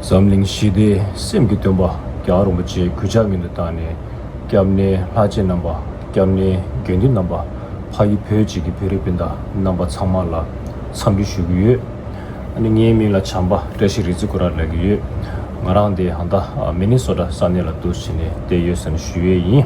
འཛམ་གླིང་ཞི་བདེ་སེམས་ཀྱི་སྟོན་པ་རྒྱ་རིན་པོ་ཆེའི་གུས་ཕྱག་གཉིས་དུ་བཏང་ནས་སྐྱབས་གནས་ལྷ་རྗེ་རྣམ་པ་སྐྱབས་གནས་དགེ་འདུན་རྣམ་པ་ཕ་ཡུལ་བོད་ཅེས་ཀྱི་བོད་རིགས་སྤུན་ཟླ་རྣམ་པ་ཚང་མ་ལ་འཚམས་འདྲི་ཞུ་གི་ཡོད། ཨ་ནི་ངའི་མིང་ལ་བྱམས་པ་བཀྲ་ཤིས་རི་རྩེ་ཀུ་ར་ལགས་ཀྱི་ཡོད། ང་རང་འདི་ཧང་ཏཱ་མེ་ནི་སོ་ཏྲ་ས་གནས་ལ་འདུག་བྱས་ནས་བསྡད་ཡོད་ཟེར་ན་ཞུ་ཡས་ཡིན།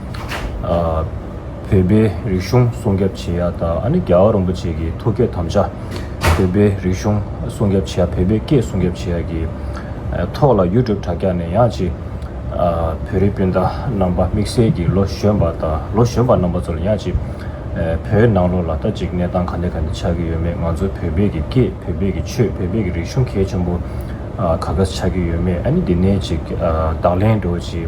བོད་པའི་རིག་གཞུང་སྲུང་སྐྱབ་བྱེད་ཡ་ད་ཨ་ནི་རྒྱལ་བ་རིན་པོ་ཆེ་གི་ཐུགས་བསྐྱེད་དམ་བཅའ། བོད་པའི་རིག་གཞུང་སྲུང་སྐྱབ་བྱེད་ཡ་བོད་པའི་སྐད་སྲུང་སྐྱབ་བྱེད་ཡ་གི་ཐོག་ལ་ཡུ་ཀྲུབ་དྲ་རྒྱ་ནས་ཡང་ཅིག་བོད་རིགས་སྤུན་ཟླ་རྣམ་པ་དམིགས་བསལ་གྱི་ལོ་གཞོན་པ་དང་ལོ་གཞོན་པ་རྣམ་པ་ཚོ་ལ་ཡང་ཅིག་བོད་ནང་ལོ་ལ་ད་ཅིག་གནས་སྟངས་ག་འད་ག་འདྲ་ཆགས་ཀྱི་ཡོད་མེད་ང་ཚོ་བོད་པས་ཀྱི་སྐད་བོད་པས་ཀྱི་ཆོས་བོད་པས་ཀྱི་རིག་གཞུང་གལ་ཆེན་པོ་ག་ག་ཆགས་ཀྱི་ཡོད་མེད་ཨ་ནི་འདི་ནས་ཅིག་བདག་ལན་འགྲོ་ཅིག།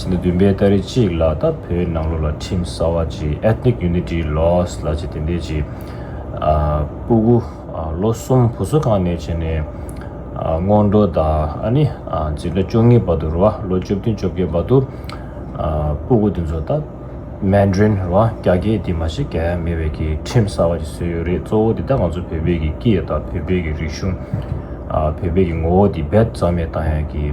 ཕྱི་ཟླ་བདུན་པའི་ཟླ་རེ་གཅིག་ལ་ད་བོད་ནང་ལོགས་ལ་ཁྲིམས་གསར་བ་ཇི Ethnic Unity Laws ལ་ཇི་དེ་འདས་ཇི་སྤུ་དགུ་ལོ་གསུམ་བུ་སོ་གང་ནས་བྱས་ནས་སྔོན་འགྲོ་ད་ཨ་ནི་ཇི་ལོ་བཅོ་ལྔའི་བར་དུ་རུ་བ་ལོ་བཅོ་བདུན་བཅོ་བརྒྱད་བར་དུ་སྤུ་དགུ་དེ་ཚོ་ད Mandarin རུ་བ་རྒྱ་སྐད་དེ་མ་ཤེས་ག་ཡ་མེད་བས་ཀྱི་ཁྲིམས་གསར་བ་ཇི་བཟོས་ཡོད་རེད་གཙོ་བོ་དེ་ད་ང་ཚོ་བོད་པའི་ཀྱི་སྐད་ད་བོད་པའི་ཀྱི་རིག་གཞུང་བོད་པའི་ཀྱི་ངོ་བོ་དེ་རྦད་ཙམ་ཡང་བཏང་ཡང་ཀྱི།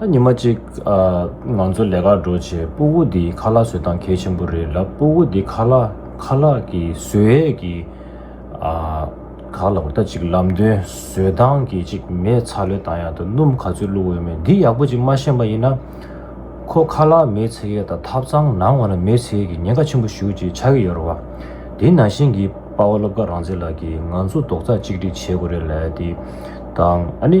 ད་ཉི་མ་གཅིག་ང་ཚོ་ལས་ཀར་འགྲོ་ཆེད་སྤུ་བོ་འདི་ཁ་ལག་བཟོས་སྟངས་གལ་ཆེན་པོ་རེད་ལབ་སྤུ་བོ་འདི་ཁ་ལག་ཁ་ལག་གི་བཟོས་ཡས་ཀྱི་ག་ལ་བ་ད་གཅིག་ལམ་སྟོན་བཟོས་སྟངས་གི་གཅིག་མེད་ཚ་ལོས་ད་ཡག་ད་སྣུམ་ག་ཚོད་བླུག་འོས་མེད་འདི་ཡག་པོ་གཅིག་མ་ཤེས་པ་ཡིན་ན། ཁོ་ཁ་ལག་མེད་ཚེ་ཡས་ད་ཐབ་ཚང་ནང་བ་ན་མེད་ཚེ་ཡས་ཀྱི་ཉེན་ཁ་ཆེན་པོ་ཞུ་གཅིག་ཆ་གི་ཡོད་ར་བ། དེ་ནང་བཞིན་གྱི་དཔའ་བོ་སློབ་དགའ་རང་བརྩེ་ལགས་ཀྱི་ང་ཚོ་རྡོག་རྩ་གཅིག་སྒྲིག་བྱེད་དགོས་རེད་ལད་དེ་དང་ཨ་ནི།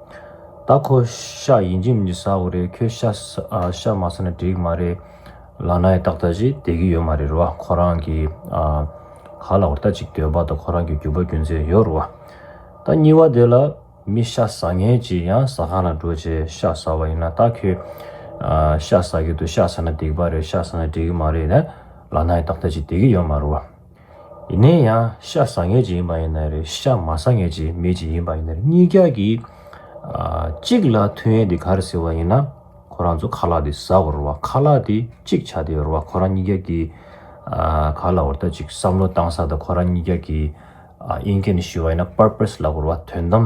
ད་ཁོ་ཤ་ཡིན་གྱི་མི་ཟ་བོ་རེད་ཁྱོད་ཤཤ་མ་ཟ་ན་འགྲིག་མ་རེད། ལག་ན་ཡི་ཏག་ཏག་ཅིག་བསྡད་ཀྱི་ཡོད་མ་རེད་རོ་ཁོ་རང་གི་ག་ལ་བར་ལྟ་ཅིག་འདོད་པ་དང་ཁོ་རང་གི་རྒྱུ་བ་རྒྱུ་མཚན་ཡོད་རོ། ད་གཉིས་བ་དེ་ལ་མི་ཤ་ཟ་ངེས་ཀྱི་ཡང་ཟ་ཁང་ལ་འགྲོ་ཆེ་ཤ་ཟ་བ་ཡིན་ན་ད་ཁྱོད་ཤ་ཟ་གི་འདུག་ཤ་ཟ་ན་འགྲིག་པ་རེད་ཤ་ཟ་ན་འགྲིག་གི་མ་རེད་ལག་ན་ཡི་ཏག་ཏག་ཅིག་བསྡད་ཀྱི་ཡོད་མ་རེད། ཡིན་ན་ཡང་ཤ་ཟ་ངེས་ཅན་ཡིན་པ་ཡིན་ན་རེད་ཤ་མ་ཟ་ངེས་ཅན་མེད་ཅན་ཡིན་པ་ཡིན་ན་རེད་གཉིས་ཀ་གི། གཅིག་ལ་ཐུན་ཡན་དེ་ག་རེ་ཟེར་བ་ཡིན་ན་ཁོ་རང་ཚོ་ཁ་ལག་དེ་ཟ་བར་བ་ཁ་ལག་དེ་གཅིག་བྱ་དེ་བར་བ་ཁོ་རང་གཉིས་ཀ་གི། ག་ལ་བར་ད་ཅིག་བསམ་བློ་བཏང་ས་ད་ཁོ་རང་གཉིས་ཀ་གི། ཨིན་སྐད་ནས་ཞུས་བ་ཡིན་ན purpose ལ་བར་བ་དོན་དམ།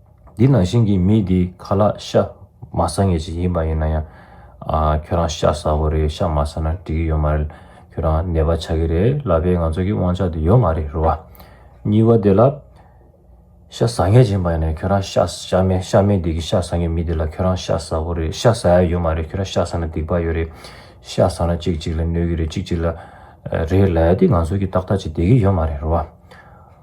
འདི་ནང་བཞིན་གྱི་མི་དེ་ཁ་ལག་ཤ་མ་ཟ་ངེས་ཅིག་ཡིན་པ་ཡིན་ན་ཡང། ཁྱོད་རང་ཤ་ཟ་དགོས་རེད་ཤ་མ་ཟ་ན་འགྲིག་གི་ཡོད་མ་རེད། ཁྱོད་རང་ནད་པ་ཆགས་ཀྱི་རེད་ལབ་པའི་ང་ཚོ་གི་དབང་ཆ་དེ་ཡོད་མ་རེད་རེད་བ། གཉིས་པ་དེ་ལ། ཤ་ཟ་ངེས་ཅིག་ཡིན་པ་ཡིན་ན་ཁྱོད་རང་ཤ་ཟ་མེད་ཤ་མེད་དེ་གི་ཤ་ཟ་ངེས་མི་དེ་ལ་ཁྱོད་རང་ཤ་ཟ་དགོས་རེད་ཤ་ཟ་ཡ་ཡོད་མ་རེད་ཁྱོད་རང་ཤ་ཟ་ན་སྡིག་པ་ཡོད་རེད། ཤ་ཟ་ན་གཅིག་གཅིག་ལ་གནོད་གི་རེད་གཅིག་གཅིག་ལ་རེད་ལབ་དེ་ང་ཚོ་གི་ཏག་ཏག་ཅིག་བསྡད་གི་ཡོད་མ་རེད་རེད་བ།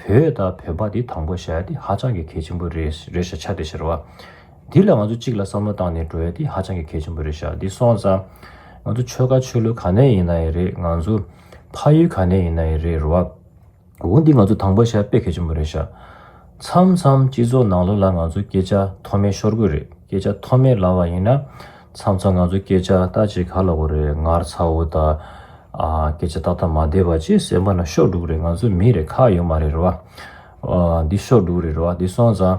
བོད་དང་བོན་པ་དེ་དང་པོ་ཞེས་དེ་ཧ་ཅང་གི་གལ་ཆེན་པོ་རེད་རེད་ཤག་ཆ་དེ་ཕྱིར་བ། འདི་ལ་ང་ཚོ་གཅིག་ལ་བསམ་བློ་བཏང་ནས་འགྲོ་ཡ་དེ་ཧ་ཅང་གི་གལ་ཆེན་པོ་རེད་ཤག་འདི་སོང་ཙང། ང་ཚོ་ཆོལ་ཁ་ཆོས་ལུགས་ག་ནས་ཡིན་ན་ཡི་རེད་ང་ཚོ། ཕ་ཡུལ་ག་ནས་ཡིན་ན་ཡི་རེད་རོ་བ། འོ་འདི་ང་ཚོ་དང་པོ་ཞེས་དཔེ་གལ་ཆེན་པོ་རེད་ཤག། མཚམས་མཚམས་སྤྱི་ཚོགས་ནང་ལོགས་ལ་ང་ཚོ་སྐད་ཆ་མཐོ་དམན་ཤོར་དགོས་རེད་སྐད་ཆ་མཐོ་དམན་ལབ་བ་ཡིན་ན། མཚམས་མཚམས་ང་ཚོ་སྐད་ཆ་ལྟ་བྱེད་ག་ལ་བོ་རེད་ངར་ཚ་བོ་དག་སྐད་ཆ་ཏག་ཏག་མ་བསྡད་པ་ཅེས་སེམས་པ་ན་ཤོག་དྲུག་རེད་ང་ཚོ་མི་རེ་ཁག་ཡོད་མ་རེད་རེད་བ། འདི་ཤོག་དྲུག་རེད་རེད་བ་འདི་སོང་ཙང།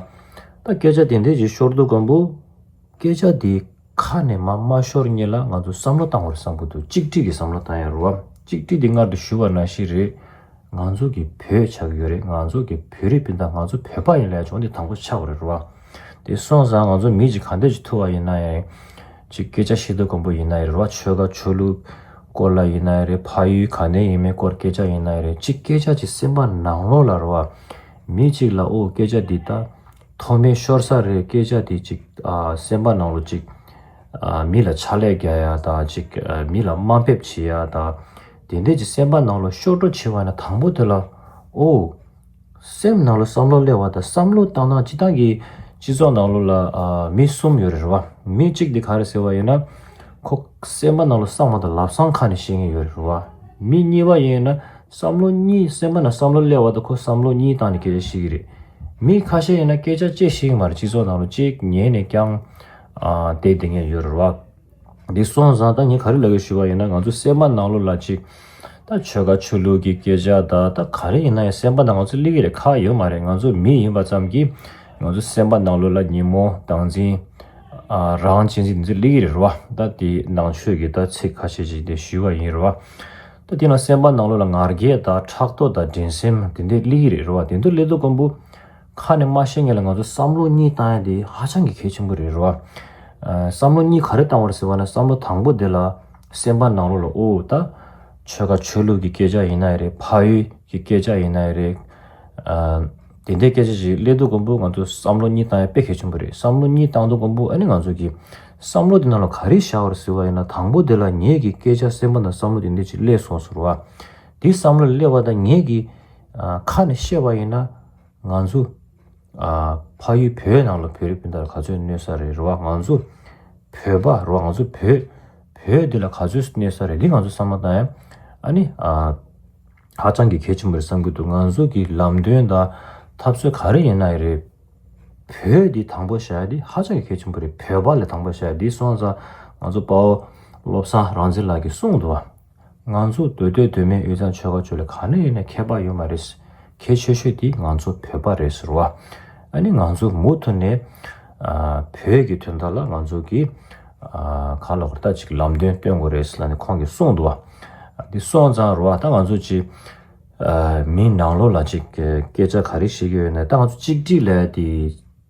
ད་སྐད་ཆ་དེ་འདྲས་ཀྱི་ཤོར་འདུག་གམ་བུ། སྐད་ཆ་དེ་ཁ་ནས་མ་མ་ཤོར་ངེས་ལ་ང་ཚོ་བསམ་བློ་བཏང་བར་བསམ་གི་འདུག་གཅིག་སྒྲིལ་གྱི་བསམ་བློ་བཏང་ཡ་རེད་བ། གཅིག་སྒྲིལ་དེ་མངལ་དུ་ཞུ་བ་ན་ཞིག་རེད། ང་ཚོ་གི་བོད་ཆགས་ཀྱི་ཡོད་རེད་ང་ཚོ་གི་བོད་རིགས་སྤུན་ཟླ་ང་ཚོ་བོད་པ་ཡིན་ལ་ཡ་ཆུང་འདི་དང་པོ་ཆགས་པ་རེད་རེད་བ། དེ་སོང་ཙང་ང་ཚོ་མི་གཅིག་གང་འདོད་ཅིག་ཐུག་བ་ཡིན་ན་ཡང་རེད། ཅིག་སྐད་ཆ་ཤེས་འདོད་དཀོན་པོ་ཡིན་ན་ཡང་རེད་རེད་བ་ཆོལ་ཁ་ཆོས་ལུགས་སྐོར་ལ་ཡིན་ན་ཡང་རེད་ཕ་ཡུལ་གང་ནས་ཡིན་མིན་སྐོར་སྐད་ཆ་ཡིན་ན་ཡང་རེད་ཅིག་སྐད་ཆ་ཅིག་སེམས་པ་ནང་ལོགས་ལ་རེད་བ། མི་གཅིག་ལ་ཨོ་སྐད་ཆ་འདི་ད་ཐོག་མའི་ཤོར་ས་རེད་སྐད་ཆ་འདི་ཅིག་སེམས་པ་ནང་ལོགས་ཅིག། མི་ལ་ཕྱག་ལས་རྒྱག་ཡ་དང་ཅིག་མི་ལ་དམའ་འབེབས་བྱེད་ཡ་དང། དེ་འདྲས་ཅིག་སེམས་པ་ནང་ལོགས་ཤོར་འགྲོ་བྱེད་བ་ན་དང་པོ་དེ་ལ་ཨོ། སེམས་ནང་ལ་བསམ་བློ་གླེང་བ་དང་བསམ་བློ་བཏང་ན་སྤྱི་བཏང་གི་སྤྱི་ཚོགས་ནང་ལོ་ལ་མི་གསུམ་ཡོད་རེད་རེད་བ། མི་གཅིག་དེ་ག་རེད་ཟེར་བ་ཡིན་ན། ཁོ་སེམས་པ་ནང་ལ་བསམ་བ་དང་ལབ་སང་ཁ་ནས་བཤད་ངེས་ཡོད་རེད་རེད་བ། མི་གཉིས་པ་ཡིན་ན་བསམ་བློ་གཉིས་སེམས་པ་ནང་བསམ་བློ་གླེང་བ་དང་ཁོ་བསམ་བློ་གཉིས་བཏང་ནས་སྐད་ཆ་བཤད་ཀྱི་རེད། མི་ཁ་ཤས་ཡིན་ན་སྐད་ཆ་བཅད་ཤིང་མ་རེད་སྤྱི་ཚོགས་ནང་ལ་གཅིག་ཉན་ནས་ཀྱང་བསྡད་བསྡད་ངེས་ཡོད་རེད་རེད་བ། འདི་སོང་བཟང་ད་ངས་ག་རེ་ལབ་ཡོད་ཞུས་པ་ཡིན་ན་ང་ཚོ་སེམས་པ་ནང་ལོག་ལ་ཅིག་ད་ཆོལ་ཁ་ཆོས་ལུགས་ཀྱི་སྐད་ཆ་དག་ད་ག་རེ་ཡིན་ན་ཡང་སེམས་པ་ནང་ང་ཚོ་གླིག་གི་རེ་ཁ་ཡོད་མ་རེད་ང་ཚོ་མི་ཡིན་པ་ཙམ་གྱིས་ང་ཚོ་སེམས་པ་ནང་ལོག་ལ་ཉིན་མོ་དང་འཛིན་རང་བྱེད་འཛིན་འདི་ཚོ་གླིག་གི་རེད་རོ་ད་དེ་ནང་ཆོས་ཀྱི་ད་ཚིག་ཁ་ཤས་ཅིག་དེ་ཞུས་པ་ཡིན་རོ་ད་དེ་ནང་སེམས་པ་ནང་ལོག་ལ་ངར་སྐད་དག་ཕྲག་དོག་དང་འགྲན་སེམས་དེ་འདི་གླིག་གི་རེད་རོ་དེ་ཚོ་གླིག་དོ་དཀོན་པོ། ཁ་ནས་སྨྲ་ཤེས་ངེས་ལ་ང་ཚོ་བསམ་བློ་གཉིས་བཏང་ཡ་དེ་ཧ་ཅང་གི་གལ་ཆེན་པོ་རེད་རེད་བ། བསམ་བློ་གཉིས་ག་རེ་བཏང་བར་ཟེར་བ་ན་བསམ་བློ་དང་པོ་དེ་ལ་སེམས་པ་ནང་ལོག་ལ་དབུ་འུ་ཐ། ཆོལ་ཁ་ཆོས་ལུགས་ཀྱི་སྐད་ཆ་ཡིན་ན་ཡི་རེད་ཕ་ཡུལ་གྱི་སྐད་ཆ་ཡིན་ན་ཡི་རེད། དེ་འདྲའི་སྐད་ཆ་ཞིག་སླེབས་དུས་གོང་པོ་ང་ཚོ་བསམ་བློ་གཉིས་བཏང་ཡ་དཔེ་གལ་ཆེན་པོ་རེད་བསམ་བློ་གཉིས་བཏང་དུས་གོང་པོ་ཨ་ནི་ང་ཚོ་གི་བསམ་བློ་དེ་ནང་ལ་ག་རེ་བཞག་བར་ཟེར་བ་ཡིན་ན་དང་པོ་དེ་ལ་ངེད་ཀྱི་སྐད་ཆ་སེམས་པ་ན་བསམ་བློ་དེ་འདྲ་ཞིག་སླེབས་སོང་ཟེར་བ། དེ་བསམ་བློ་ལ་སླེབས་བ་དང་ངེད་ཀྱི། ཁ་ནས་བཤད་པ་ཡིན་ན་ང་ཚོ་ཕ་ཡུལ་བོད་ནང་ལ་བོད་རིགས་སྤུན་ཟླར་ག་ཚོད་གནོད་ས་རེད་རེད་བ་ང་ཚོ་བོད་པ་རེད་བ་ང་ཚོ་བོད་བོད་འདི་ལ་ག་ཚོད་གནོད་ས་རེད་འདི་ང་ཚོ་བསམ་བློ་བཏང་ཡ་ཨ་ནི་ཧ་ཅང་གི་གལ་ཆེན་པོ་རེད་བསམ་གྱི་འདུག་ང་ཚོ་གི་ལམ་སྟོན་དང་ཐབས་སྲོལ་ག་རེ་ཡིན་ན་ཡི་རེད་བོད་འདི་དང་པོ་བྱ་ཡ་འདི་ཧ་ཅང་གི་གལ་ཆེན་པོ་རེད་བོད་པ་ལ་དང་པོ་བྱ་ཡ་འདི་སོང་ཙང་ང་ཚོ་དཔའ་བོ་བློ་བཟང་རང་བཙན་ལགས་ཀྱི་གསུང་དུ་བ། ང་ཚོ་སྡོད་སྡོད་སྡོད་མེད་ཡོད་ཙང་ཆོལ་ཁ་ཆོལ་ལེ་གང་ན་ཡོད་ན་ཁྱད་པར་ཡོད་མ་རེད། གལ་ཆེ་ཤོས་དེ་ང་ཚོ་བོད་པ་རེད་ཟེར་བ། ཨ་ནི་ང་ཚོ་མུ་མཐུད་ནས་བོད་ཀྱི་དོན་དག་ལ་ང་ཚོ་གིས་གང་ལ་ཧུར་ཐག་ཅིག་ལམ་སྟོན་སྟོན་དགོས་རེད་ཟེར་ལ་ནི་ཁོང་གིས་གསུངས་འདུག་བ། འདི་སོང་ཙང་རོ་ད་ང་ཚོ་ཅིག་མིའི་ནང་ལོགས་ལ་ཅིག་སྐད་ཆ་ག་རེ་བཤད་ཀྱི་ཡོད་ན་ད་ང་ཚོ་གཅིག་སྒྲིལ་ལས་དེ།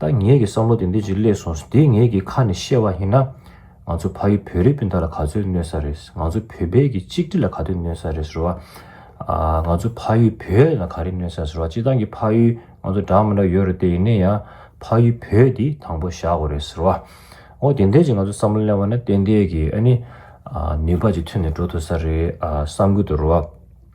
ད་ངེད་ཀྱི་བསམ་བློ་དེ་འདི་ཅིག་སླེབས་སོང་ཟེར་དེ་ངེད་ཀྱི་ཁ་ནས་བཤད་པ་ཡིན་ན། ང་ཚོ་ཕ་ཡུལ་བོད་རིགས་སྤུན་ཟླ་ལ་ག་ཚོད་གནོད་ས་རེད། ང་ཚོ་བོད་པའི་གི་གཅིག་སྒྲིལ་ལ་ག་དུས་གནོད་ས་རེད་ཟེར་བ། ང་ཚོ་ཕ་ཡུལ་བོད་ལ་ག་རེ་གནོད་ས་ཟེར་བ་སྤྱི་སྟངས་ཀྱི་ཕ་ཡུལ་ང་ཚོ་འདྲ་མི་འདྲ་ཡོད་རེད་དེ་ཡིན་ན་ཡང་ཕ་ཡུལ་བོད་དེ་དང་པོ་བཞག་དགོས་རེད་ཟེར་བ། འོ་དེ་འད་ཅིག་ང་ཚོ་བསམ་བློ་གླེང་བ་ན་ཏན་ཏན་གྱི་ཨ་ནི་ནུས་པ་ཅིག་ཐོན་ནས་འགྲོ་ཐུབ་ས་རེད་བསམ་གི་འདུག་རོ།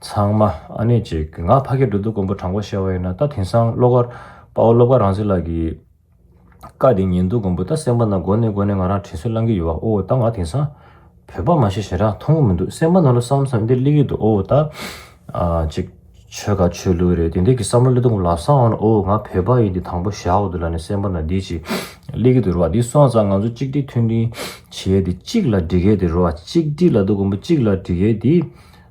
ཚང་མ་ཨ་ནེ་ཅེས་གི་ང་ཕ་སྐད་འགྲོ་འདུག་མགོན་པོ་དྲང་པོ་བཤད་བ་ཡིན་ན་ད་དེང་སང་བློ་དཀར་དཔའ་བོ་བློ་དཀར་རང་བཟི་ལགས་ཀྱི་བཀའ་དེ་ཉན་འདུག་མགོན་པོ་ད་སེམས་པ་ན་དགོན་ནས་དགོན་ནས་ང་རང་དྲིན་གཟོ་བསླང་གི་ཡོད་བ་ཨོའོ་ད་ང་དེང་སང་བོད་པ་མ་ཤེས་ཞེ་དྲག་མཐོང་གི་མི་འདུག་སེམས་པ་ན་ལོ་བསམ་བསམ་འདི་གླིག་གི་འདུག་ཨོའོ་ད་ཅིག་ཆོལ་ཁ་ཆོས་ལུགས་རེད་དེ་འདི་གི་བསམ་བློ་གླེ་དུང་ལ་བསམ་བ་ན་ཨོའོ་ང་བོད་པ་ཡིན་འདི་དང་པོ་ཞག་འདི་ལ་ནི་སེམས་པ་ན་འདི་ཅིག་གླིག་གི་འདུག་རེད་བ་འདི་སོང་ཙང་ང་ཚོ་གཅིག་སྒྲིལ་མཐུན་སྒྲིལ་བྱས་ཏེ་གཅིག་ལ་འགྲིག་གི་འདུག་རེད་བ་གཅིག་སྒྲིལ་ལ་འདུག་མགོན་པོ་གཅིག་ལ་འགྲིག་གི་འདི།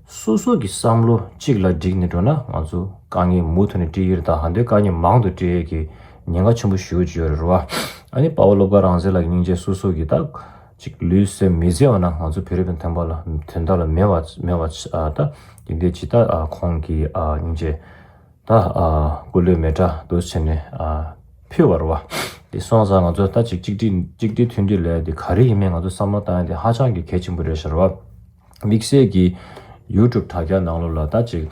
སོ་སོ་གི་བསམ་བློ་གཅིག་ལ་བསྒྲིགས་ནས་འགྲོ་ན་ང་ཚོ་དཀའ་ངལ་མུ་མཐུད་ནས་སྤྲི་ཡེར་དང་ཧན་དོའི་དཀའ་ངལ་མང་དུ་སྤྲི་ཡེར་གྱི་ཉེན་ཁ་ཆེན་པོ་ཞུ་ཀྱི་ཡོད་རེད་རེད་བ། ཨ་ནི་དཔའ་བོ་སློབ་དགའ་རང་བཟེ་ལགས་ཀྱི་སྙིང་རྗེ་སོ་སོ་གི་ད་ཅིག་ལུས་སེམས་མི་བཟད་བ་ན་ང་ཚོ་བོད་རིགས་པའི་དོན་པ་ལ་དོན་དག་ལ་མེད་བ་མེད་བ་ད་ཡིན་དེ་ཇི་ལྟར་ཁོང་གི་སྙིང་རྗེ་ད་སྐུ་ལུས་མེ་དགྲ་འདུལ་བྱེད་ནས་ཕུལ་བ་རེད་བ། དེ་སོང་ཙང་ང་ཚོ་ད་ཅིག་གཅིག་སྒྲིལ་མཐུན་སྒྲིལ་ལས་དེ་ག་རེ་ཡིན་མིན་ང་ཚོ་བསམ་བློ་བཏང་ཡ་དེ་ཧ་ཅང་གི་གལ་ཆེན་པོ་རེད་ཤག་རེད་བ། དམིགས་བསལ་གྱིས། YouTube དྲ་རྒྱ་ནང་ལོ་ལ་ད་ཅིག་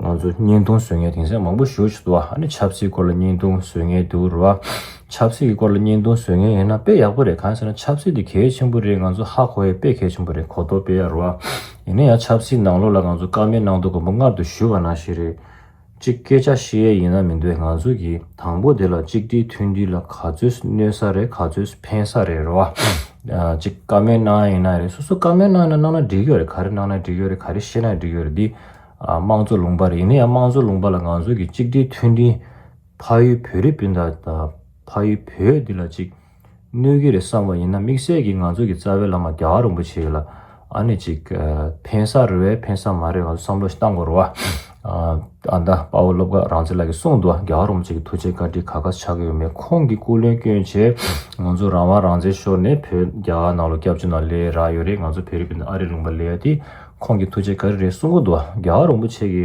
ང་ཚོ་བརྙན་ཐུང་བཟོས་ངེས་དེང་སང་མང་པོ་ཞུ་བཞིན་འདུག་ཨ་ནི་ཆབ་སྲིད་སྐོར་ལ་བརྙན་ཐུང་བཟོས་ངེས་འདུག་རེད་བ། ཆབ་སྲིད་ཀྱི་སྐོར་ལ་བརྙན་ཐུང་བཟོས་ངེས་ཡིན་ན་དཔེ་ཡག་པོ་རེད་གང་ཟེར་ན་ཆབ་སྲིད་དེ་གལ་ཆེན་པོ་རེད་ང་ཚོ་ཧ་གོ་ཡས་དཔེ་གལ་ཆེན་པོ་རེད་གོ་ལྡོག་དཔེ་ཡག་རེད་བ། ཡིན་ན་ཡང་ཆབ་སྲིད་ནང་ལོ་ལ་ང་ཚོ་སྐར་མའི་ནང་དུ་དགོངས་པ་མངར་དུ་ཞུ་བ་ནང་བཞིན་རེད། གཅིག་སྐད་ཆ་བཤད་ཡས་ཡིན་ན་མི་འདོད་ང་ཚོ་གི་དང་པོ་དེ་ལ་གཅིག་སྒྲིལ་མཐུན་སྒྲིལ་ལ་ག་ཚོད་གནོད་ས་རེད་ག་ཚོད་ཕན་ས་རེད་རེད་བ། གཅིག་བཀའ་མོལ་གནང་ཡས་ཡིན་ན་རེད་སོ་སོ་བཀའ་མོལ་གནང་ཡས་ན་གནང་ན་འགྲིག་གི་རེད་ག་རེ་གནང་ན་འགྲིག་གི་རེད་ག་རེ་བཤད་ན་འགྲིག་གི་རེད་འདི་དམངས་གཙོ་ལུང་པ་རེད་ཡིན་ན་ཡང་དམངས་གཙོ་ལུང་པ་ལ་ང་ཚོ་གི་གཅིག་སྒྲིལ་མཐུན་སྒྲིལ་ཕ་ཡུལ་བོད་རིགས་སྤུན་ཟླ་དང་ཕ་ཡུལ་བོད་འདི་ལ་གཅིག། གནོད་གི་རེད་བསམ་པ་ཡིན་ན་དམིགས་བསལ་གྱི་ང་ཚོ་གི་རྩ་བའི་བླ་མ་རྒྱ་གར་རིན་པོ་ཆེ་ལ་ཨ་ནི་ཅིག་ཕན་ས་རེད་བས་ཕན་ས་མ་རེད་ང་ཚོ་བསམ་བློ་ཞིག་བཏང་དགོས་རེད་བ། ཨ་མདའ་དཔའ་བོ་སློབ་དགའ་རང་བྱེད་ལགས་ཀྱིས་གསུངས་འདུག་རྒྱ་གར་རིན་པོ་ཆེ་གི་ཐུགས་རྗེ་བཀའ་དྲིན་ག་ག་ཆགས་ཀྱི་ཡོད་མེད་ཁོང་གི་སྐུ་ལུས་སྐྱོན་ཆེད་ང་ཚོ་རང་དབང་རང་བཙན་ཤོར་ནས་བོད་རྒྱ་གར་ནང་ལོ་སྐྱབས་བཅོལ་ནང་ལས་རག་ཡོད་རེད་ང་ཚོ་བོད་རིགས་པའི་ནང་ཨ་རི་ལུང་པ་ལས་ཡ་དེ་ཁོང་གི་ཐུགས་རྗེ་ག་རེ་རེད་གསུངས་གི་འདུག་རྒྱ་གར་རིན་པོ་ཆེ་གི།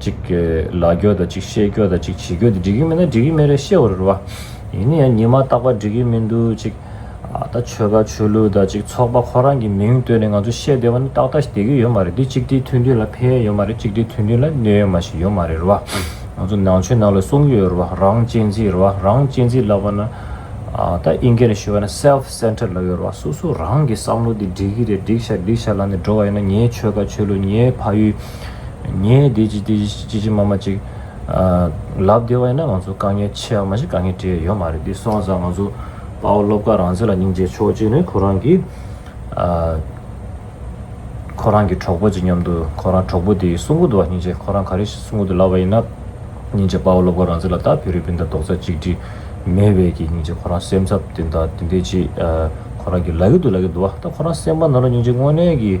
གཅིག་ལ་རྒྱོ་དང་གཅིག་ཤེས་རྒྱོ་དང་གཅིག་བྱེད་རྒྱོ་དེ་འགྲིག་གི་མིན་ན་འགྲིག་གི་མེད་རེད་ཤེས་བ་རེད་བ། ཡིན་ན་ཡང་ཉི་མ་རྟག་པར་འགྲིག་གི་མི་འདུག་གཅིག། ད་ཆོལ་ཁ་ཆོས་ལུགས་དང་གཅིག་ཚོགས་པ་ཁོ་རང་གི་མིང་བཏོན་ནས་ང་ཚོ་བཤད་བསྡད་པ་ནི་ཏག་ཏག་ཞིག་བསྡད་ཀྱི་ཡོད་མ་རེད་འདི་གཅིག་སྒྲིལ་མཐུན་སྒྲིལ་ལ་ཕན་ཡོད་ཡོད་མ་རེད་གཅིག་སྒྲིལ་མཐུན་སྒྲིལ་ལ་གནོད་ཡོད་མ་ཞིག་ཡོད་མ་རེད་བ། ང་ཚོ་ནང་ཆོས་ནང་ལ་གསུང་གི་ཡོད་རེད་བ་རང་གཅེས་འཛིན་རེད་བ་རང་གཅེས་འཛིན་ལབ་པ་ན། ད་ཨིན་སྐད་ནས་ཞུས་པ་ན self centered ལབ་ཡོད་རེད་བ་སོ་སོ་རང་གི་བསམ་བློ་འདི་འགྲིག་གི་རེད་འགྲིག་ཤག་འགྲིག་ཤག་ལབ་ནས་འགྲོ་བ་ཡིན་ན་ངའི་ཆོལ་ཁ་ཆོས་ལུགས་ངའི་ཕ་ཡུལ། ངས་དེ་ཅི་ཅི་ཅི་མ་མ་ཅིག། ལབ་བདེ་བ་ཡིན་ན་ང་ཚོ་དཀའ་ངལ་ཆེ་བ་མ་གཞི་དཀའ་ངལ་དྲིས་ཡ་ཡོད་མ་རེད་འདི་སོང་ཙང་ང་ཚོ་དཔའ་བོ་སློབ་དགའ་རང་བཟོས་ལ་སྙིང་རྗེ་ཆོག་གཅིག་ནི་ཁོ་རང་གིས། ཁོ་རང་གི་གྲོགས་པོ་ཅིག་མཉམ་དུ་ཁོ་རང་གྲོགས་པོ་དེའི་གསུང་གོ་དུ་བ་སྙིང་རྗེ་ཁོ་རང་ག་རེ་གསུང་གོ་དུ་ལབ་པ་ཡིན་ན། སྙིང་རྗེ་དཔའ་བོ་སློབ་དགའ་རང་བཟོས་ལ་ད་བེ་རི་བིན་དང་རྡོག་རྩ་གཅིག་སྒྲིལ་མེད་བས་ཀྱི་སྙིང་རྗེ་ཁོ་རང་སེམས་འཚབ་དེ་འདྲ་དེ་འདྲས་ཅིག་ཁོ་རང་གིས་ལབ་ཡོད་དུ་ལབ་ཡོད་དུ་བ་ད་ཁོ་རང་སེམས་པ་ནོར་ལ་སྙིང་རྗེ་དངོས་གནས་ཀྱིས།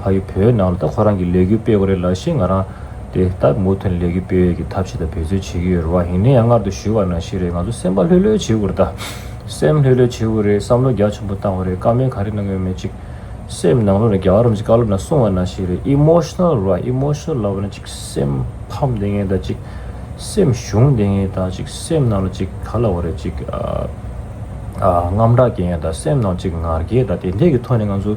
ཕ་ཡུལ་བོད་ནང་ལ་ད་ཁོ་རང་གི་ལས་འགུལ་སྤེལ་གོ་རེད་ལབ་ཤེས་ང་རང་དེ་ད་མུ་མཐུད་ནས་ལས་འགུལ་སྤེལ་ཡོད་ཀྱི་ཐབས་ཤེས་ད་བེད་རྩོལ་བྱེད་ཀྱི་ཡོད་རེད་བ་ཡིན་ནའི་ཡང་སྔར་དུ་ཞུས་བ་ནང་བཞིན་རེད་ང་ཚོ་སེམས་པ་ལྷོད་ལྷོད་བྱེད་གོ་རེད་ད་སེམས་ལྷོད་ལྷོད་བྱེད་གོ་རེད་བསམ་བློ་རྒྱ་ཆེན་པོ་བཏང་གོ་རེད་བཀའ་མོལ་ག་རེ་གནང་གི་ཡོད་མེད་ཅིག་སེམས་ནང་ལོག་ནས་རྒྱ་གར་རོམ་གྱི་བཀའ་སློབ་ནང་གསུང་བ་ནང་བཞིན་རེད Emotional རེད Emotional ལབ་ན་ཅིག་སེམས་ཕམ་བདེ་ངེས་ད་ཅིག་སེམས་ཞུམ་བདེ་ངེས་ད་ཅིག་སེམས་ནང་ལ་ཅིག་ག་ལ་བ་རེད་ཅིག་རྔམ་སྐྲག་སྐྱེ་ངེས་ད་སེམས་ནང་ཅིག་ངར་སྐྱེ་ད་དེ་འད་ཀྱི་ཐོག་ནས་ང་ཚོ།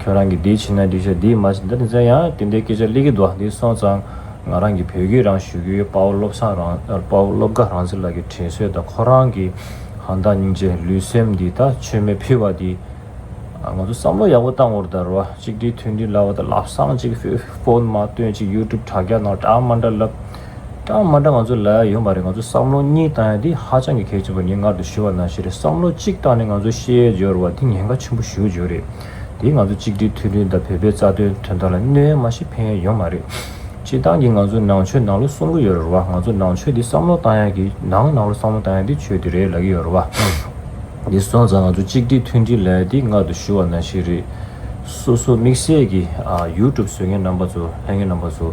ཁྱོད་རང་གིས་འདི་བྱིན་ན་འགྲིག་ཤག་འདི་མ་བྱིན་ད་ནི་ཟེར་ཡང་དེ་འདྲའི་སྐད་ཆ་གླེགས་ཀྱི་རྡོག་འདི་སོང་ཙང་ང་རང་གིས་བོད་སྐད་རང་ཞུ་གི་ཡོད་དཔའ་བོ་སློབ་ཚང་རང་དཔའ་བོ་སློབ་དགའ་རང་ཚེ་ལགས་ཀྱི་དྲན་གསོས་དང་ཁོ་རང་གི་ཧང་བདག་སྙིང་རྗེ་ལུས་སེམས་འདི་ད་ཆོས་མེད་ཕུལ་བ་འདི་ང་ཚོ་བསམ་བློ་ཡག་པོ་བཏང་བོར་དར་བ་གཅིག་སྒྲིལ་མཐུན་སྒྲིལ་ལབ་བ་དང་ལབ་སང་གཅིག་ཧྥེ་ཧྥོན་མ་སྟོན་གཅིག་ཡུ་ཏུབ་དྲ་རྒྱ་ནང་དྲ་མ་འདྲ་ལབ། གྲངས་མ་འདྲ་ང་ཚོ་ལ་ཡོང་པ་རེད་ང་ཚོ་བསམ་བློ་གཉིས་བཏང་ཡ་འདི་ཧ་ཅང་གི་གལ་ཆེན་པོ་རེད་ངས་སྔར་དུ་ཞུས་བ་ན་ཞེས་རེད་བསམ་བློ་གཅིག་བཏང་ནས་ང་ཚོ་ཤེས་ཡས་འབྱོར་བ་འདི་ཉེན་ཁ་ཆེན་པོ་ཞུ་འཇུག་རེད་དེ་ང་ཚོ་གཅིག་སྒྲིལ་མཐུན་སྒྲིལ་དང་བོད་པའི་རྩ་དོན་དོན་དག་ལ་གནོད་ཡ་མ་ཞིག་ཕན་ཡ་ཡོང་མ་རེད། སྤྱི་བཏང་གི་ང་ཚོ་ནང་ཆོས་ནང་ལོ་གསུམ་གོ་ཡོད་རེད་ར་བ་ང་ཚོ་ནང་ཆོས་འདི་བསམ་བློ་བཏང་ཡ་གི་ནང་ནང་ལོ་བསམ་བློ་བཏང་ཡ་འདི་ཆོས་འདི་རེད་ལ་གི་ཡོད་ར་བ། འདི་སོང་ཙང་ང་ཚོ་གཅིག་སྒྲིལ་མཐུན་སྒྲིལ་ལ་ཡ་འདི་སྔར་དུ་ཞུས་བ་ན་ཞེས་རེད། སོ་སོ་དམིགས་བསལ་གི YouTube བཟོས་མཁན་རྣམ་པ་ཚོ་ལྷན་རྒྱས་རྣམ་པ་ཚོ།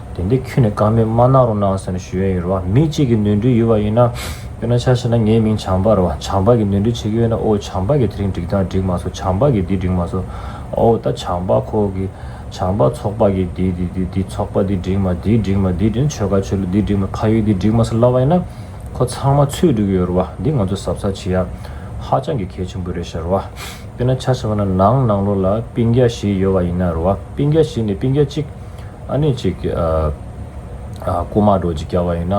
དེ་འདི་ཁྱོད་ནས་ཀ་མེད་མ་གནང་རོགས་གནང་ཟེར་ནས་ཞུ་ཡོན་ཡོད་རེད་བ་མི་གཅིག་གི་ནོར་འཁྲུལ་ཡོད་བ་ཡིན་ན། དཔེར་ན་ཆ་ཤས་ན་ངའི་མིང་བྱམས་པ་རེད་བ་བྱམས་པ་གི་ནོར་འཁྲུལ་བྱེད་ཀྱི་ཡོད་ན་ཨོ་བྱམས་པ་གི་དེ་རིང་འགྲིག་སྟངས་འགྲིག་མ་སོང་བྱམས་པ་གི་འདི་འགྲིག་མ་སོང་ཨོ་ད་བྱམས་པ་ཁོ་གི་བྱམས་པ་ཚོགས་པ་གི་འདི་འདི་འདི་འདི་ཚོགས་པ་འདི་འགྲིག་མ་འདི་འགྲིག་མ་འདི་འགྲིག་ཆོལ་ཁ་ཆོལ་ལོ་འདི་འགྲིག་མ་ཁ་ཡོད་འདི་འགྲིག་མ་སོགས་ལབ་བ་ཡིན་ན། ཁོ་ཚང་མ་ཚོད་འགྲིག་གི་ཡོད་རེད་བ་འདི་ང་ཚོ་ཟབ་ཚགས་བྱེད་ཡག་ཧ་ཅང་གི་གལ་ཆེན་པོ་རེད་ཤག་རེད་བ། དཔེར་ན་ཆ་ཤས་པ་ན་ནང་ནང་ལོགས་ལ་སྤིན་རྒྱ་བཞི་ཡོད་བ་ཡིན་ན་རེད་བ་སྤིན་རྒྱ་བཞི་ནས་སྤིན་རྒྱ་གཅིག། ཨ་ནི་གཅིག། རྐུ་མ་འགྲོ་ཅིག་རྒྱབ་པ་ཡིན།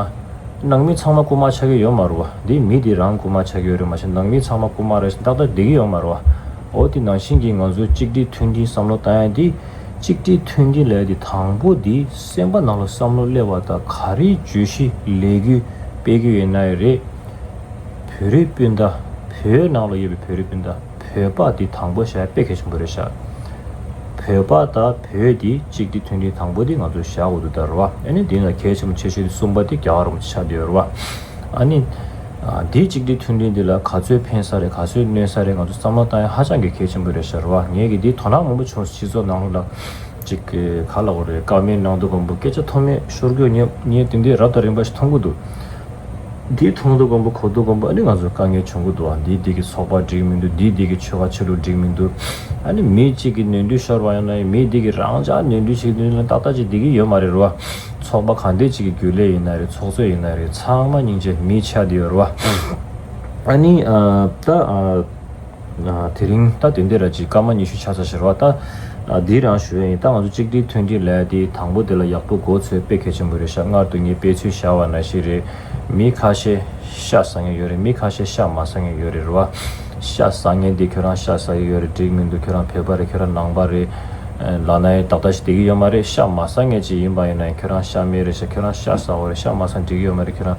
ནང་མི་ཚང་མ་རྐུ་མ་ཆགས་ཀྱི་ཡོད་མ་རུ། འདི་མི་འདི་རང་རྐུ་མ་ཆགས་ཀྱི་ཡོད་རེད་མ་ཤེས་ནང་མི་ཚང་མ་རྐུ་མ་རེད་ཤེས་ཏག་ཏག་བསྡད་ཀྱི་ཡོད་མ་རུ། འོ་དེ་ནང་བཞིན་གྱི་ང་ཚོའི་གཅིག་སྒྲིལ་མཐུན་སྒྲིལ་བསམ་བློ་ལྟ་ཡ་འདི། གཅིག་སྒྲིལ་མཐུན་སྒྲིལ་ལས་དེ་དང་པོ་འདི་སེམས་པ་ནང་ལ་བསམ་བློ་སླེབས་པ་དང་ག་རེ་བརྗོད་གཞི་ལས་རྒྱུ་སྤེལ་རྒྱུ་ཡིན་ན་ཡོད་རེད། བོད་རིགས་སྤུན་ཟླ། བོད་ནང་ལ་ཡོད་པའི་བོད་རིགས་སྤུན་ཟླ། བོད་པ་འདི་དང་པོ་ཞྭའི་དཔེ་གལ་ཆེན་པོ་རེད་ཤག་བོད་པ་དང་བོད་འདི་གཅིག་འདི་མཐུན་སྒྲིལ་དང་པོ་འདི་ང་ཚོ་ཞྭ་འུ་དུ་དང་རུ་བ་ཨ་ནི་འདི་ལ་གལ་ཆེན་པོ་ཆེ་ཤོས་འདི་གསུམ་པ་འདི་རྒྱ་གར་རུ་ཆ་འདི་རུ་བ་ཨ་ནི་འདི་གཅིག་འདི་མཐུན་སྒྲིལ་འདི་ལ་ག་ཚོད་ཕན་ས་རེད་ག་ཚོད་གནོད་ས་རེད་ང་ཚོ་བསམ་བློ་བཏང་ཡ་ཧ་ཅང་གི་གལ་ཆེན་པོ་རེད་ཤག་རུ་བ་ངས་གི་འདི་དོ་སྣང་མང་པོ་བྱུང་སྤྱི་ཚོགས་ནང་ལྷུག་ལྷག་ཅིག་གི་ག་ལ་གོ་རེད་དཀའ་མའི་ནང་དུ་གོམ་པོ་སྐད་ཆ་ཐོག་མེད་ཤོར་གྱོ་ངས་འདི་འདི་རབ་དང་རིམ་པ་ཞིག་མཐོང་གི་འདུག། འདིའི་མཐོང་དུ་སྒོམ་པ་གོ་དུ་སྒོམ་པ་ཨ་ནི་ང་ཚོར་དཀའ་ངལ་འབྱུང་གི་འདུག་ཨ་འདིའི་སྡིག་གི་ཚོགས་པ་འགྲིག་མི་འདུག་འདིའི་སྡིག་གི་ཆོ་ག་ཆ་ལུགས་འགྲིག་མི་འདུག་ཨ་ནི་མི་གཅིག་གི་ནུས་མཐུ་ཤོར་བ་ཡང་ན་མིའི་སྡིག་གི་རང་ཅག་ནུས་མཐུ་ཞིག་འདི་ལ་ཏག་ཏག་ཅིག་སྡིག་གི་ཡོད་མ་རེད་རོ། ཚོགས་པ་གང་དེ་ཅིག་གི་རྒྱུ་ལས་ཡིན་ན་རེད་ཚོགས་གཙོས་ཡིན་ན་རེད་ཚང་མ་སྙིང་རྗེ་མི་ཆགས་དེ་ཡོད་རོ། ཨ་ནི། ད། དེ་རིང་ད་དེ་འདི་ར་ཅིག་སྐར་མ་ཉི་ཤུ་ཆ་ཚ་ཞེར་བ་ད་འདི་རང་ཞུ་ཡ་ཡིན་ད་ང་ཚོ་གཅིག་སྒྲིལ་ཐུན་སྒྲིལ་ལ་ཡ་དེ་དང་པོ་དེ་ལ་ཡག་པོ་མགོ་ཚོས་དཔེ་གལ་ཆེན་པོ་རེད་ཤག་སྔར་དུ་ངས་དཔེ་ཚུལ་བཞག་བ་ན་ཤེས་རེད་མི་ཁ་ཤས་ཤ་ཟ་ངེས་ཡོད་རེད་མི་ཁ་ཤས་ཤ་མ་ཟ་ངེས་ཡོད་རེད་རེད་བ་ཤ་ཟ་ངེས་དེ་ཁྱོད་རང་ཤ་ཟ་ཡི་ཡོད་རེད་འགྲིག་མི་འདུག་ཁྱོད་རང་བོད་པ་རེད་ཁྱོད་རང་ནང་པ་རེད་ལགས་ན་ཡིན་ད་ལྟ་ཞིག་དེ་གི་ཡོད་མ་རེད་ཤ་མ་ཟ་ངེས་ཅིག་ཡིན་པ་ཡིན་ན་ཡིན་ཁྱོད་རང་ཤ་མེད་རེད་ཤག་ཁྱོད་རང་ཤ་ཟ་བ་རེད་ཤ་མ་ཟ་འགྲིག་ཡོད་མ་རེད་ཁྱོད་རང།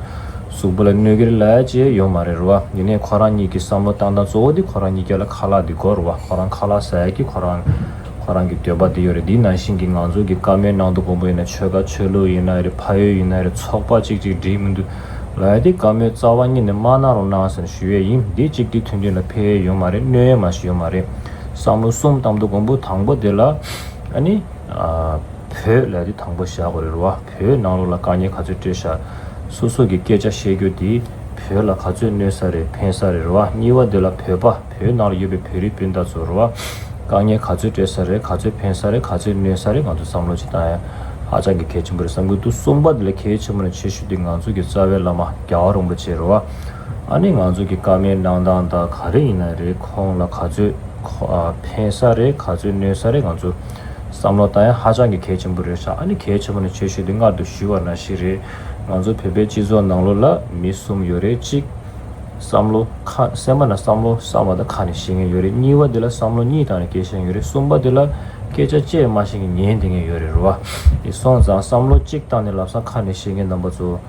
གཟུགས་པོ་ལ་གནོད་གེར་ལ་ཅེས་ཡོང་མ་རེད་རུ་བ་ཡིན་ནའི་ཁོ་རང་གཉིས་ཀྱི་བསམ་བློ་བཏང་སྟངས་གཙོ་བོ་དེ་ཁོ་རང་གཉིས་ཀྱི་ལ་ཁ་ལག་འདི་གོ་རུ་བ་ཁོ་རང་ཁ་ལག་ཟས་ཀྱི་ཁོ་རང་ཁོ་རང་གི་འདོད་པ་འདི་ཡོད་རེད་འདི་ནང་བཞིན་གྱི་ང་ཚོ་གི་བཀའ་མའི་ནང་དུ་དགོང་པོ་ཡིན་ན་ཆོལ་ཁ་ཆོས་ལུགས་ཡིན་ན་རེད་ཕ་ཡུལ་ཡིན་ན་རེད་ཚོགས་པ་གཅིག་གཅིག་སྒྲིག་མི་འདུག་ལ་ཡ་དེ་བཀའ་མོའི་རྩ་བ་གཉིས་ནས་མ་གནང་རུང་གནང་ཟེར་ཞུ་ཡས་ཡིན་འདི་གཅིག་དེ་མཐུན་མཐུན་ལ་ཕེ་ཡས་ཡོང་མ་རེད་གནོད་ཡས་མ་ཞིག་ཡོང་མ་རེད་བསམ་བློ་གསུམ་བཏང་འདུག་དགོང་པོ་དང་པོ་དེ་ལ་ཨ་ནི། བོད་ལ་ཡ་དེ་དང་པོ་བཞག་དགོས་རེད་རུ་བ། བོད་ནང་ལོགས་ལ་དཀའ་ཉེ་ག་ཚོད་སྤྲོད་ཤག། སོ་སོ་གི་སྐད་ཆ་བཤད་རྒྱུ་དེ་བོད་ལ་ག་ཚོད་གནོད་ས་རེད་ཕན་ས་རེད་རེད་བ་གཉིས་བ་འདི་ལ་བོད་པ་བོད་ནང་ལ་ཡོད་པའི་བོད་རིགས་སྤུན་ཟླ་ཚོ་རེད་བ་དཀའ་ཉེ་ག་ཚོད་སྤྲད་ས་རེད་ག་ཚོད་ཕན་ས་རེད་ག་ཚོད་གནོད་ས་རེད་ང་ཚོ་བསམ་བློ་བྱེད་སྟངས་ཧ་ཅང་གི་གལ་ཆེན་པོ་རེད་བསམ་གི་འདུག་གསུམ་པ་འདི་ལས་གལ་ཆེན་པོ་ནས་ཆེ་ཤོས་དེ་ང་ཚོ་གི་རྩ་བའི་བླ་མ་རྒྱ་བ་རོང་པོ་ཆེ་རེད་བ་ཨ་ནི་ང་ཚོ་གི་དཀའ་ངལ་གནང་སྟངས་དག་ག་རེ་ཡིན་ན་རེད་ཁོང་ལ་ག་ཚོད་ཕན་ས་རེད་ག་ཚོད་གནོད་ས་རེད་ང་ཚོ། བསམ་བློ་ད་ཡང་ཧ་ཅང་གི་གལ་ཆེན་པོ་རེད་ཤག་ཨ་ནི་གལ་ཆེན་པོ་ནི་ཆོས་ཞུ་དེ་མངལ་དུ་ཞུས་བ་ན་ཞིག་རེད། ང་ཚོ་བོད་པའི་སྤྱི་ཚོགས་ནང་ལོ་ལ་མི་གསུམ་ཡོད་རེད་གཅིག། བསམ་བློ། ཁ་སེམས་པ་ན་བསམ་བློ་བསམ་བ་དང་ཁ་ནས་བཤད་མཁན་ཡོད་རེད་གཉིས་པ་དེ་ལ་བསམ་བློ་གཉིས་དང་ནི་སྐད་ཤན་ཡོད་རེད་གསུམ་པ་དེ་ལ་སྐད་ཆ་བཅད་མ་ཤེས་མཁན་ཉན་བདེ་མཁན་ཡོད་རེད་རུ་བ། དེ་སོང་ཙང་བསམ་བློ་གཅིག་དང་ནི་ལབ་སང་ཁ་ནས་བཤད་མཁན་རྣམ་པ་ཚོ།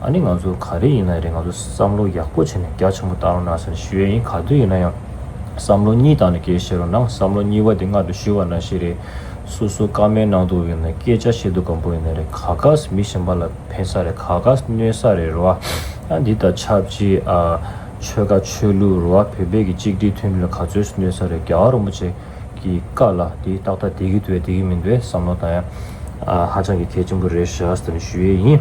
ཨ་ནི་ང་ཚོ་ག་རེ་ཡིན་ན་རེད་ང་ཚོ་བསམ་བློ་ཡག་པོ་བྱས་ནས་རྒྱ་ཆེན་པོ་བཏང་རོགས་གནང་ཟེར་ནས་ཞུ་ཡས་ཡིན་ག་དུས་ཡིན་ན་ཡང་བསམ་བློ་གཉིས་བཏང་ནས་སྐད་བཤད་རོགས་གནང་བསམ་བློ་གཉིས་པ་དེ་མངའ་དུ་ཞུ་བ་ན་ཞིག་རེད། སོ་སོ་ཀ་མའི་ནང་དུ་ཡོད་ན་སྐད་ཆ་བཤད་དུ་གམ་པོ་ཡིན་ན་རེད་ག་གཱས་མི་གཞན་པ་ལ་ཕན་ས་རེད་ག་གཱས་གནོད་ས་རེད་རོ་ཨ་འདི་ལྟར་ཆབས་ཅིག་ཨ་ཆོལ་ཁ་ཆོས་ལུགས་རོ་ཨ་བོད་པའི་གི་གཅིག་སྒྲིལ་མཐུན་སྒྲིལ་ལ་ག་ཚོད་སུ་གནོད་ས་རེད་རྒྱ་བ་རོང་པོ་ཆེ་གི་ཀ་ལ་དེ་ཏག་ཏག་དེ་གི་འདུག་བས་དེ་གི་མི་འདུག་བས་བསམ་བློ་བཏང་ཡ་ཨ་ཧ་ཅང་གི་གལ་ཆེན་པོ་རེད་ཞགས་ཟེར་ནས་ཞུ་ཡས་ཡིན།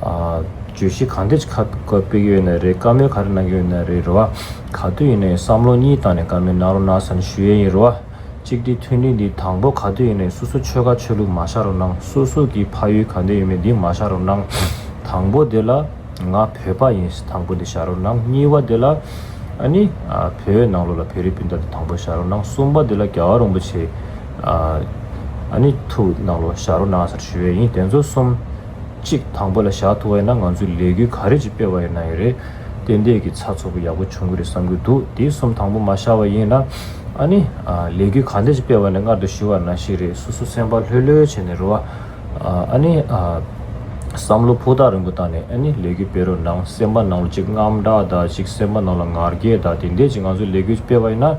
བརྗོད་གཞི་གང་འདོད་ཀྱི་ཁ་བཀོད་པི་ཡོད་ན་རེད་བཀའ་མོལ་ག་རེ་གནང་གི་ཡོད་ན་རེད་རེད་བ། ག་དུས་ཡིན་ན་ཡང་བསམ་བློ་གཉིས་བཏང་ནས་བཀའ་མོལ་གནང་རོགས་གནང་ས་ནི་ཞུ་ཡས་ཡིན་རེད་བ། གཅིག་འདི་མཐུན་སྒྲིལ་འདི་དང་པོ་ག་དུས་ཡིན་ན་ཡང་སུ་སུ་ཆོལ་ཁ་ཆོས་ལུགས་མ་བཞག་རོགས་གནང་སུ་སུ་གིས་ཕ་ཡུལ་ག་འདི་ཡོད་མེད་འདི་མ་བཞག་རོགས་གནང། དང་པོ་འདི་ལ་ང་བོད་པ་ཡིན་ཟེར་དང་པོ་འདི་བཞག་རོགས་གནང་གཉིས་བ་འདི་ལ་ཨ་ནི་བོད་ནང་ལོགས་ལ་བོད་རིགས་སྤུན་ཟླ་འདི་དང་པོ་བཞག་རོགས་གནང་གསུམ་པ་འདི་ལ་རྒྱ་བ་རོང་པོ་ཆེ་ཨ་ནི་ཐུ་ནང་ལོགས་བཞག་རོགས་གནང་ས་རེད་ཞུ་ཡས་ཡིན་དེ་ཚོ་གསུམ། གཅིག་དང་པོ་ལ་བཞག་ཐུག་ཡོད་ན་ང་ཚོས་ལས་འགུལ་ག་རེ་ཅིག་སྤེལ་བ་ཡིན་ན་ཡོད་རེད། ཏན་ཏན་གྱི་ཚགས་ཚུགས་པོ་ཡག་པོ་བྱུང་གི་རེད་བསམ་གྱི་འདུག་དེ་གསུམ་དང་པོ་མ་ཤར་བ་ཡིན་ན། ཨ་ནི། ལས་འགུལ་ག་འདྲ་ཅིག་སྤེལ་བ་ནས་སྔར་དུ་ཞི་བར་ན་ཞིག་རེད་སོ་སོ་སེམས་པ་ལྷོད་ལྷོད་བྱས་ནས་རོ། ཨ་ནི། བསམ་བློ་ཕུགས་ཐག་རིང་པོ་བཏང་ནས་ཨ་ནི་ལས་འགུལ་སྤེལ་རོགས་གནང་སེམས་པ་ནང་ལ་ཅིག་རྔམ་དྲག་དང་ཅིག་སེམས་པ་ནང་ལ་ངར་རྒྱས་དང་དེ་འད་ཅིག་ང་ཚོས་ལས་འགུལ་སྤེལ་བ་ཡིན་ན།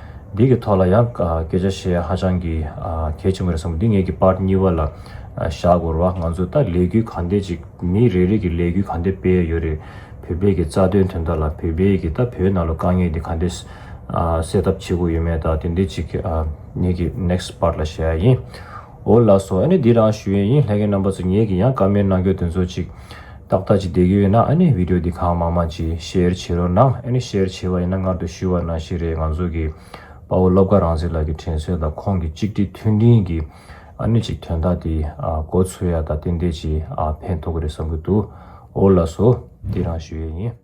འདི་གི་ཐོག་ལ་ཡང་སྐད་ཆ་བཤད་ཧ་ཅང་གི་གལ་ཆེན་པོ་རེད་བསམ་འདི་ངེད་ཀྱི་པར་གཉིས་པ་ལ་བཞག་དགོས་ར་བ་ང་ཚོས་ད་ལས་འགུལ་གང་འདེད་ཅིག་མི་རེ་རེ་གི་ལས་འགུལ་གང་འདེད་སྤེལ་ཡ་ཡོད་རེད་བོད་པའི་གི་རྩ་དོན་དོན་དག་ལ་བོད་པའི་གི་ད་བོད་ནང་ལ་དཀའ་ངལ་འདི་གང་འདེད་སེལ་ཐབས་བྱེད་དགོས་ཡོད་མེད་ད་དེ་འདེད་ཅིག་ངེད་ཀྱི next part ལ་བཤད་ཡ་ཡིན། འོ་ལགས་སོ་ཨ་ནི་འདི་རང་ཞུ་ཡས་ཡིན་ལྷད་ཀན་རྣམ་པ་ཚོ་ངེད་ཀྱི་ཡང་བཀའ་མེད་གནང་རྒྱུ་དེ་ཚོ་ཅིག་ཏག་ཏག་ཅིག་བསྡད་ཀྱི་ཡོད་ན་ཨ་ནི་བིདེའོ་འདི་གང་མང་མང་ཅིག་ཤེར་བྱེད་རོགས་གནང་ཨ་ནི་ཤེར་བྱེད་བ་ཡིན་ན་སྔར་དུ་ཞུས་བ་ནང་ཞིག་རེད་ང་ཚོ་གི་དཔའ་བོ་སློབ་དགའ་རང་ཟེར་ལགས་ཀྱི་དྲན་གསོས་དང་ཁོང་གི་གཅིག་སྒྲིལ་མཐུན་སྒྲིལ་གྱི་ཨ་ནི་ཅིག་དོན་དག་འདི་འགོ་ཚུགས་ཡ་ད་ཏན་ཏན་ཅིག་ཕན་ཐོག་གི་རེད་བསམ་གྱི་འདུག་འོ་ལགས་སོ་འདི་རང་ཞུ་ཡས་ཡིན།